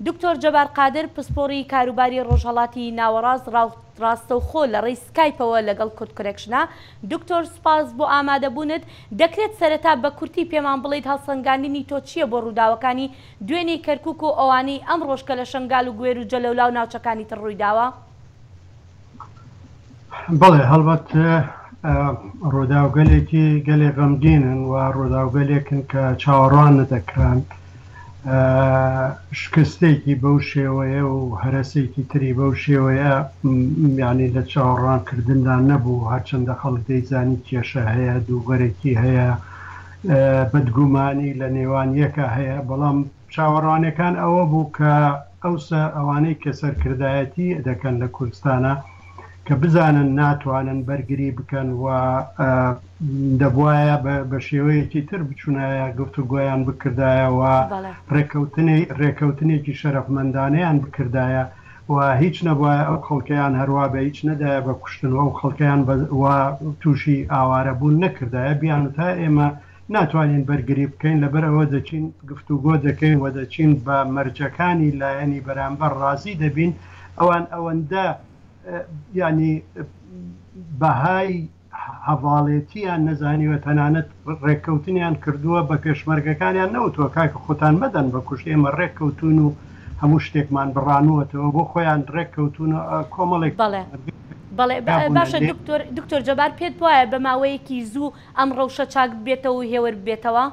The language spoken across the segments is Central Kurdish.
دکتۆر جەبار قادر، پسپۆڕی کاروباری ڕۆژهەڵاتی ناوەڕاست ڕاستەوخۆ لە ڕێی سکایپەوە لەگەڵ کوردکونێکشنا. دکتۆر سپاس بۆ ئامادەبوونت. دەکرێت سەرەتا بە کورتی پێمان بڵێیت هەڵسەنگاندنی تۆ چییە بۆ ڕووداوەکانی دوێنێی کەرکووک و ئەوانەی ئەمڕۆش کە لە شەنگال و گوێر و جەلەولا و ناوچەکانی تر ڕوویداوە؟ بەڵێ هەڵبەت ڕۆداوگەلێکی گەلێ غەمگینن و ڕۆداوگەلێکن کە چاوەڕوان نەدەکران شکستێکی بەو شێوەیە و هەرەسێکی تری بەو شێوەیە میانی لە چاوەڕوانکردندا نەبوو هەرچەندە خەڵک دەیزانی کێشە هەیە دووبەرەکی هەیە بەدگومانی لە نێوان یەکە هەیە بەڵام چاوەڕوانیەکان ئەوە بوو کە ئەوسا ئەوانەی کە سەرکردایەتی دەکەن لە کوردستانا کە بزانن ناتوانن بەرگری بکەن و دەبوایە بە شێوەیەکی تر بچونایە گفتوگۆیان بکردایە و ڕێککەوتنی ڕێککەوتنێکی شەرەفمەندانەیان بکردایە و هیچ نەبواە ئەو خەڵکەیان هەروە بە هیچ نەدایە بە کوشتن و ئەو خەڵکەیان بە تووشی ئاوارەبوون نەکردایە بیان تا ئێمە ناتوانین بەرگری بکەین لەبەر ئەوە دەچین گفتوگۆ دەکەین و دەچین بە مەرجەکانی لایەنی بەرامبەر ڕازی دەبین ئەوان ئەوەندە یانی بەهای هەڤاڵێتیان نەزانیوە تەنانەت ڕێککەوتنیان کردووە بە پێشمەرگەکانیان نەوتوە کاکە خۆتان مەدەن بە کوشت ئێمە ڕێک کەوتون و هەموو شتێکمان بڕانوەتەوە بۆ خۆیان ڕێک کەوتون کۆمەڵێک بەڵێ بەڵێ باشە دکتۆر دکتۆر جەبار پێت وایە بە ماوەیەکی زوو ئەم ڕەوشە چاک ببێتەوە و هێور ببێتەوە؟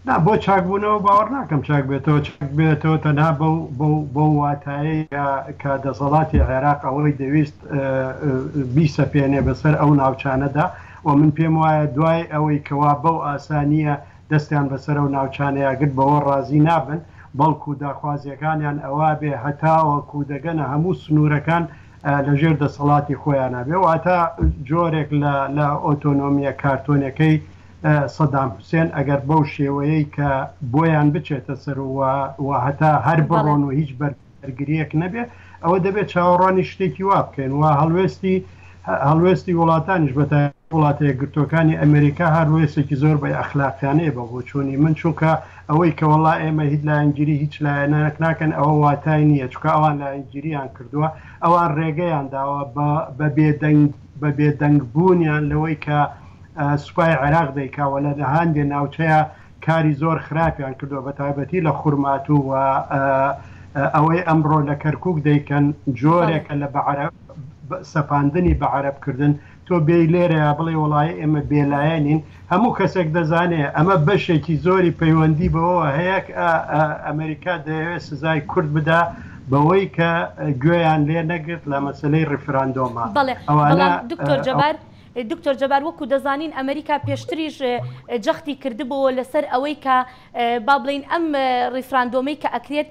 نا، بۆ چاک بوونەوە باوەڕ ناکەم چاک بێتەوە، چاک ببێتەوە تەنها بەو بەو بەو واتایەیە کە دەسەڵاتی عێراق ئەوەی دەویست بیسەپێنێ بەسەر ئەو ناوچانەدا و من پێم وایە دوای ئەوەی کەوا بەو ئاسانییە دەستیان بەسەر ئەو ناوچانەیا گرت بەوە ڕازی نابن بەڵکو داخوازییەکانیان ئەوە بێ هەتاوەکو دەگەنە هەموو سنوورەکان لە ژێر دەسەڵاتی خۆیانا بێ واتە جۆرێک لە لە ئۆتۆنۆمیە کارتۆنەکەی سەدام حوسێن ئەگەر بەو شێوەیەی کە بۆیان بچێتە سەر و هەتا هەر بڕۆن و هیچ بەر بەرگریەک نەبێ ئەوە دەبێت چاوەڕوانی شتێکی وا بکەین و هەڵوێستی هەڵوێستی وڵاتانیش بەتا وڵاتە یەکگرتوەکانی ئەمریکا هەروێسێکی زۆر بە ئەخلاقیانەیە بە بۆچوونی من چونکە ئەوەی کە وەڵا ئێمە هیچ لایەنگیری هیچ لایەنەک ناکەن ئەوە واتای نییە چونکە ئەوان لایەنگیریان کردووە ئەوان ڕێگەیان داوە بە بێدەنگ بە بێدەنگ بوونیان لەوەی کە سوپای عێراق دەیکا وە لە هەندێ ناوچەیە کاری زۆر خراپیان کردووە بە تایبەتی لە خورماتوو و ئەوەی ئەمڕۆ لە کەرکک دەیکەن جۆرێکە لە بە عەرەب سەپاندنی بە عەرەبکردن تۆ بێی لێرەیا بڵێی وەڵاهی ئێمە بێلایەنین، هەموو کەسێک دەزانێ ئەمە بەشێکی زۆری پەیوەندی بەوەوە هەیە کە ئەمریکا دەیەوێ سزای کورد بدا بەوەی کە گوێیان لێ نەگرت لە مەسەلەی ڕیفراندۆما. بەڵێ، بەڵام دکتۆر جەبار، دکتۆر جەبار وەکو دەزانین ئەمریکا پێشتریش جەختی کردبۆوە لەسەر ئەوەی کە با بڵێین ئەم ڕیفراندۆمەی کە ئەکرێت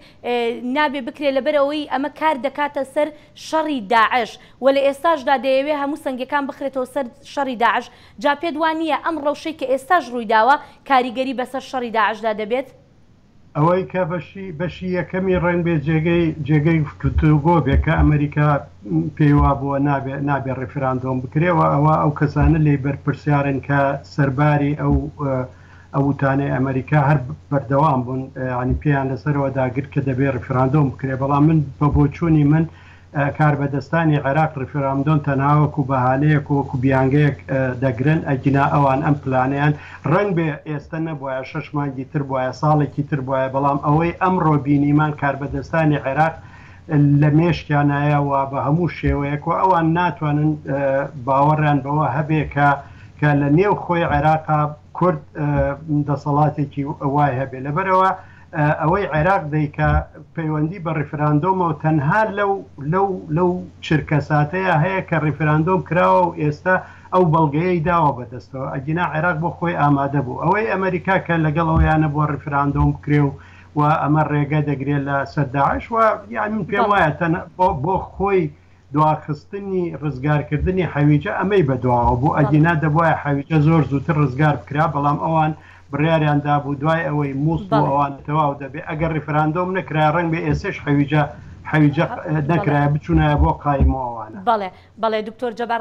نابێ بکرێ لەبەر ئەوەی ئەمە کار دەکاتە سەر شەڕی داعش، وە لە ئێستاشدا دەیەوێ هەموو سەنگەکان بخرێتەوە سەر شەڕی داعش، جا پێت وا نییە ئەم ڕەوشەی کە ئێستاش ڕووی داوە کاریگەری بەسەر شەڕی داعشدا دەبێت؟ ئەوەی کە بەشی بەشی یەکەمی ڕێنبێ جێگەی جێگەی گفتوگۆ بێ کە ئەمەریکا پێی وا بووە نابێ نابێ ڕیفراندۆم بکرێ وە ئەوە ئەو کەسانە لێی بەرپرسیارن کە سەرباری ئەو ئەو وتانەی ئەمەریکا هەر بەردەوام بوون ینی پێیان لەسەرەوە داگر کە دەبێ ڕفراندۆم بکرێ بەڵام من بە بۆچوونی من کاربەدەستانی عێراق ڕفراندۆن تەناوەکو بەهانەیەک وەکو بیانگەیەک دەگرن ئەگینا ئەوان ئەم پلانیان ڕنگ بێ ئێستا نەبواە شش مانگی تر بواە ساڵێکی تر بواە بەڵام ئەوەی ئەم ڕۆبینیمان کاربەدەستانی عێراق لە مێشکیان نایە و بە هەموو شێوەیەک و ئەوان ناتوانن باوەڕیان بەوە هەبێ کە کە لە نێو خۆی عێراقا کورد دەسەڵاتێکی وای هەبێ لەبەرەوە ئەوەی عێراق دەیکا پەیوەندی بە ڕیفراندۆمە و تەنها لەو لەو لەو چرکە ساتەیە هەیە کە ڕیفراندۆم کراوە و ئێستا ئەو بەڵگەیەی داوە بەدەستەوە ئەگینا عێراق بۆ خۆی ئامادە بوو ئەوەی ئەمریکا کە لەگەڵ ئەویانە بۆ ڕیفراندۆم بکرێ و و ئەمە ڕێگە دەگرێت لە سەر داعش و یان من پێم وایە تەنە بۆ خۆی دواخستنی ڕزگارکردنی حەویجە ئەمەی بەدواوە بۆ ئەگینا دەبواە حەویجە زۆر زووتر ڕزگار بکرا بەڵام ئەوان بڕیاریان دابوو دوای ئەوەی موس بۆ ئەوان تەواو دەبێت ئەگەر ڕیفراندۆم نەکرا ڕنگ بە ئێسش حەویجە حەویجە نەکرای بچوونایە بۆ قایمەوەوانە بەڵێ بەڵێ دکتۆر جەبار